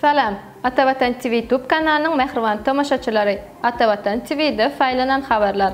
Salam! Atavatan TV YouTube kanalynyň mähriban tomaşaçylary! Atavatan TV-de saýlanan habarlar.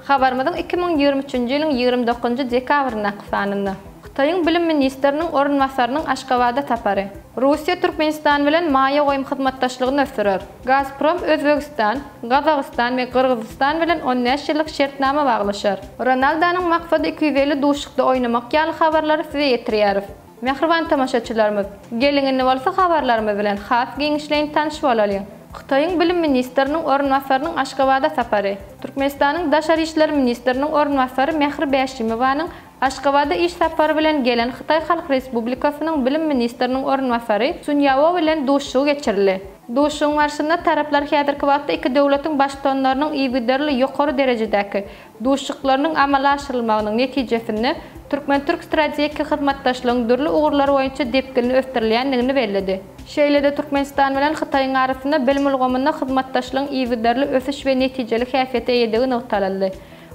Habarymyzyň iki müň ýigrimi üçünji ýylyň ýigrimi dokuzynjy dekabryndaky sanynda. Hytaýyň bilim ministriniň orunbasarynyň Aşgabada sapary. Russiýa Türkmenistan bilen maýa goýum hyzmatdaşlygyny ösdürer. Gazprom Özbegistan, Gazagystan we Gyrgyzystan bilen on bäş ýyllyk şertnama baglaşar. Ronaldonyň maksady iki ýüz elli duşuşykda oýnamak ýaly habarlary size ýetirýäris. Mähriban tomaşaçylarymyz, geliň indi bolsa habarlarymyz bilen has giňişleýin tanyş bolalyň. Hytaýyň bilim ministriniň orunbasarynyň Aşgabada sapary. Türkmenistanyň daşary işler ministriniň orunbasary Mähri Bäşimowanyň Aşgabada iş sapary bilen gelen Hytaý Halk Respublikasynyň bilim ministriniň orunbasary Sun Ýao bilen duşuşygy geçirildi. Duşuşygyň barşynda taraplar häzirki wagtda iki döwletiň Baştutanlarynyň yzygiderli ýokary derejedäki duşuşyklarynyň amala aşyrylmagynyň netijesinde türkmen-türk strategik hyzmatdaşlygyň dürli ugurlar boýunça depginli ösdürilýändigini belledi. Şeýle-de Türkmenistan bilen Hytaýyň arasynda bilim ulgamynda hyzmatdaşlygyň yzygiderli ösüş we netijeli häsiýete eýedigi nygtalyldy.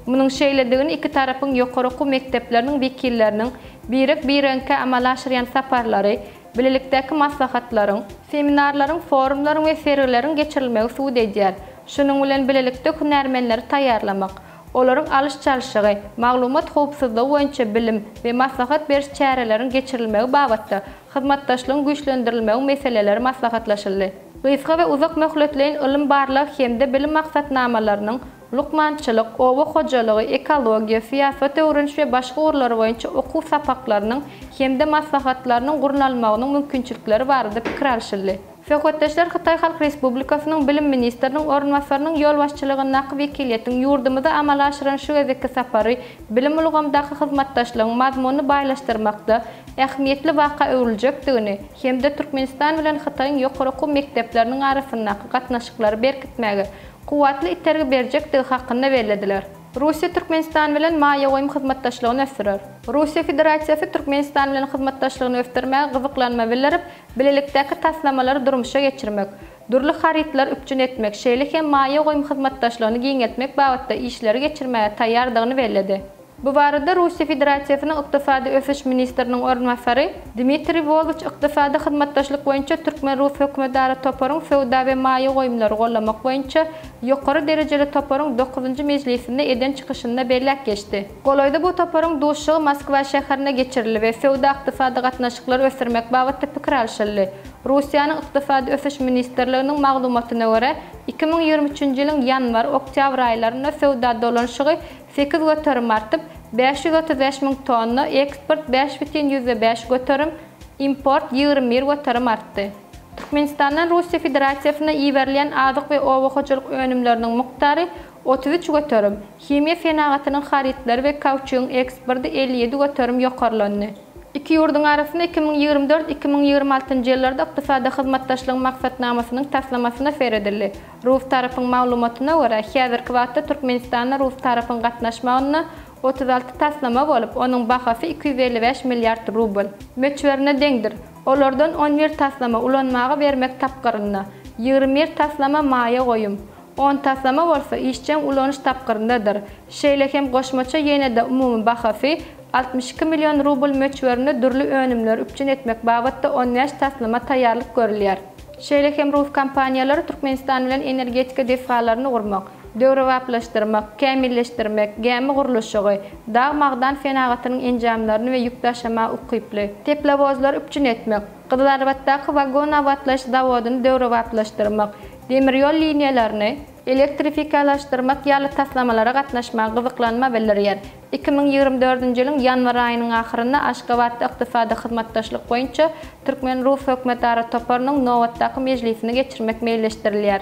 Munuň şeýledigini iki tarapyň ýokary okuw mekdepleriniň wekilleriniň birek-biregiňkä amala aşyrýan saparlary, bilelikdäki maslahatlaryň, seminarlaryň, forumlaryň we sergileriň geçirilmegi subut edýär, şunuň bilen bilelikde hünärmenleri taýýarlamak, olaryň alyş-çalşygy, maglumat howpsuzlygy boýunça bilim we maslahat beriş çäreleriň geçirilmegi babatda hyzmatdaşlygyň güýçlendirilmegi meseleleri maslahatlaşyldy. Gysga we uzak möhletleýin ylym-barlag hem-de bilim maksatnamalarynyň, Lukmançylyk, oba hojalygy, ekologiýa, syýasat öwreniş we başga ugurlar boýunça okuw sapaklarynyň hem-de maslahatlarynyň gurnalmagynyň mümkinçilikleri barada pikir alşyldy. Söhbetdeşler Hytaý Halk Respublikasynyň Bilim ministriniň orunbasarynyň ýolbaşçylygyndaky wekiliýetiň ýurdumyza amala aşyran şu gezekki sapary bilim ulgamdaky hyzmatdaşlygyň mazmunyny baýlaşdyrmakda ähmiýetli waka öwrüljekdigini hem-de Türkmenistan bilen Hytaýyň ýokary okuw mekdepleriniň arasyndaky gatnaşyklary berkitmäge kuwwatly itergi berjekdigi hakynda bellediler. Russiýa Türkmenistan bilen maýa goýum hyzmatdaşlygyny ösdürer. Russiýa Federasiýasy Türkmenistan bilen hyzmatdaşlygyny ösdürmäge gyzyklanma bildirip, bilelikdäki taslamalary durmuşa geçirmek, dürli harytlary üpjün etmek, şeýle hem maýa goýum hyzmatdaşlygyny giňeltmek babatda işleri geçirmäge taýýardygyny belledi. Bu barada Russiýa Federasiýasynyň Ykdysady ösüş ministriniň orunbasary Dmitriý Wolwç Ykdysady hyzmatdaşlyk boýunça türkmen-rus hökümetara toparyň söwda we maýa goýumlary gollamak boýunça ýokary derejeli toparyň dokuzynjy mejlisinde eden çykyşynda belläp geçdi. Golaýda bu toparyň duşuşygy Moskwa şäherinde geçirildi we söwda-ykdysady gatnaşyklary ösdürmek babatda pikir alşyldy. Russiýanyň Ykdysady ösüş ministrliginiň maglumatyna görä, iki müň ýigrimi üçünji ýylyň ýanwar, oktýabr aýlarynda söwda dolanyşygy Sekiz göterim artyp, bäş ýüz otuz bäş müň tonna, eksport bäş bütin ýüzde bäş göterim, import ýigrimi bir göterim artdy. Türkmenistandan Russiýa Federasiýasyna iberilýän azyk we oba hojalyk önümleriniň mukdary otuz üç göterim, himiýa senagatynyň harytlary we kauçugyň eksporty elli ýedi göterim ýokarlandy. Iki ýurduň arasynda iki müň ýigrimi dört-iki müň ýigrimi altynjy ýyllarda Ykdysady hyzmatdaşlygyň maksatnamasynyň taslamasyna seredildi. Rus tarapyň maglumatyna görä, häzirki wagtda Türkmenistanda rus tarapyň gatnaşmagynda otuz alty taslama bolup, onuň bahasy iki ýüz elli bäş milliard rubl. Möçberine deňdir. Olardan on bir taslama ulanmaga bermek tapgyrynda, ýigrimi bir taslama maýa goýum, on taslama bolsa işjeň ulanyş tapgyryndadyr. Şeýle hem goşmaça ýene-de umumy bahasy altmyş iki million rubl möçberinde dürli önümleri üpjün etmek babatda on bäş taslama taýýarlyk görülýär. Şeýle hem rus kompaniýalary Türkmenistan bilen energetika desgalaryny gurmak, döwrebaplaşdyrmak, kämilleşdirmek, gämi gurluşygy, dag-magdan senagatynyň enjamlaryny we ýük daşamaga ukyply teplowozlary üpjün etmek, Gyzylarbatdaky wagon abatlaýyş zawodyny döwrebaplaşdyrmak, demir ýol liniýalaryny elektrifikalaşdyrmak ýaly taslamalara gatnaşmaga gyzyklanma bildirýär. Iki müň ýigrimi dördünji ýylyň ýanwar aýynyň ahyrynda Aşgabatda Ykdysady hyzmatdaşlyk boýunça türkmen-rus hökümetara toparynyň nobatdaky mejlisini geçirmek meýilleşdirilýär.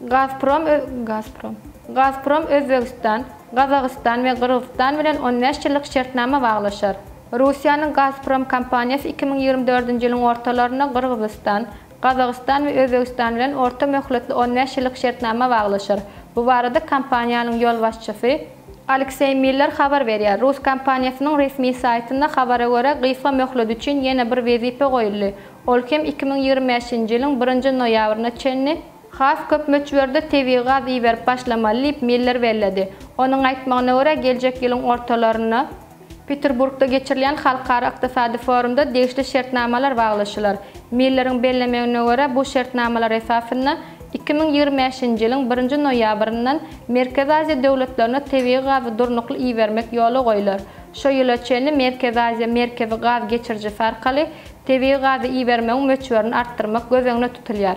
Gazprom Gazprom Gazprom Özbegistan, Gazagystan we Gyrgyzystan bilen on bäş ýyllyk şertnama baglaşar. Russiýanyň Gazprom kompaniýasy iki müň ýigrimi dördünji ýylyň ortalarynda Gyrgyzystan, Gazagystan we Özbegistan bilen orta möhletli on bäş ýyllyk şertnama baglaşar. Bu barada kompaniýanyň ýolbaşçysy, Alekseý Miller habar berýär. Rus kompaniýasynyň resmi saýtynda habara görä, gysga möhlet üçin ýene bir wezipe goýuldy, ol hem iki müň ýigrimi bäşinji ýylyň birinji noýabryna çenli, has köp möçberde tebigy gaz iberip başlamaly diýip, Miller belledi. Onuň aýtmagyna görä, geljek ýylyň ortalaryna Peterburgda geçirilýän halkara ykdysady forumda degişli şertnamalar baglaşylar. Milleriň bellemegine görä, bu şertnamalar esasynda iki müň ýigrimi bäşinji ýylyň birinji noýabryndan Merkezi Aziýa döwletlerine tebigy gazy durnukly ibermek ýola goýlar. Şu ýyla çenli Merkezi Aziýa merkezi gaz geçirijisi arkaly tebigy gazy ibermegiň möçberini artdyrmak göz öňüne tutulýar.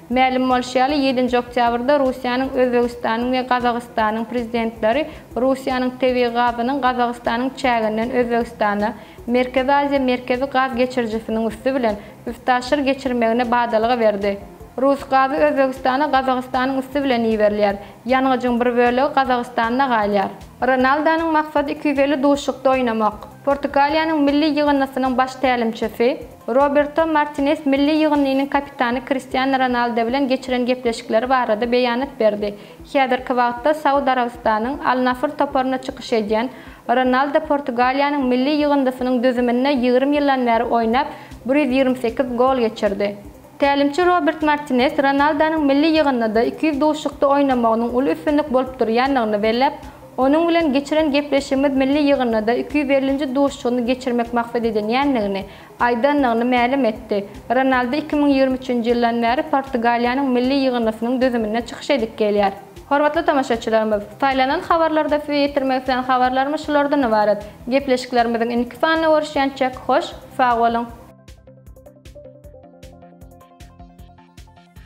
Mälim bolşy ýaly, ýedinji oktýabrda Russiýanyň, Özbegistanyň we Gazagystanyň Prezidentleri Russiýanyň tebigy gazynyň Gazagystanyň çäginden Özbegistana, Merkezi Aziýa Merkezi gaz geçirijisiniň üsti bilen, üstaşyr geçirmegine badalga berdi. Rus gazy Özbegistana Gazagystanyň üsti bilen iberilýär. Ýangyjyň bir bölegi Gazagystanda galýar. Ronaldonyň maksady iki ýüz elli duşlukda oýnamak. Portugaliýanyň milli ýygyndysynyň baş tälimçisi. Roberto Martinez milli ýygyndynyň kapitany Kristiano Ronaldo bilen geçiren gepleşikleri barada beýanat berdi. Häzirki wagtda Saud Arabystanyň Al-Nasr toparynda çykyş edýän Ronaldo Portugaliýanyň milli ýygyndysynyň düzüminde ýigrimi ýyldan bäri oýnap, bir ýüz ýigrimi sekiz gol geçirdi. Tälimçi Robert Martines Ronaldonyň milli ýygyndyda iki ýüz duşuşykda oýnamagynyň uly üstünlik bolup durýandygyny belläp, Onuň bilen geçiren gepleşigimiz milli ýygyndyda iki ýüz ellinji duşuşygyny geçirmek maksat edinýändigini aýdandygyny mälim etdi. Ronaldo iki müň ýigrimi üçünji ýyldan bäri Portugaliýanyň milli ýygyndysynyň düzüminde çykyş edip gelýär. Hormatly tomaşaçylarymyz, saýlanan habarlarda size ýetirmek islän habarlarymyz şulardan ybarat. Gepleşiklerimiziň indiki sanyna görüşýänçäk, hoş! Sag boluň.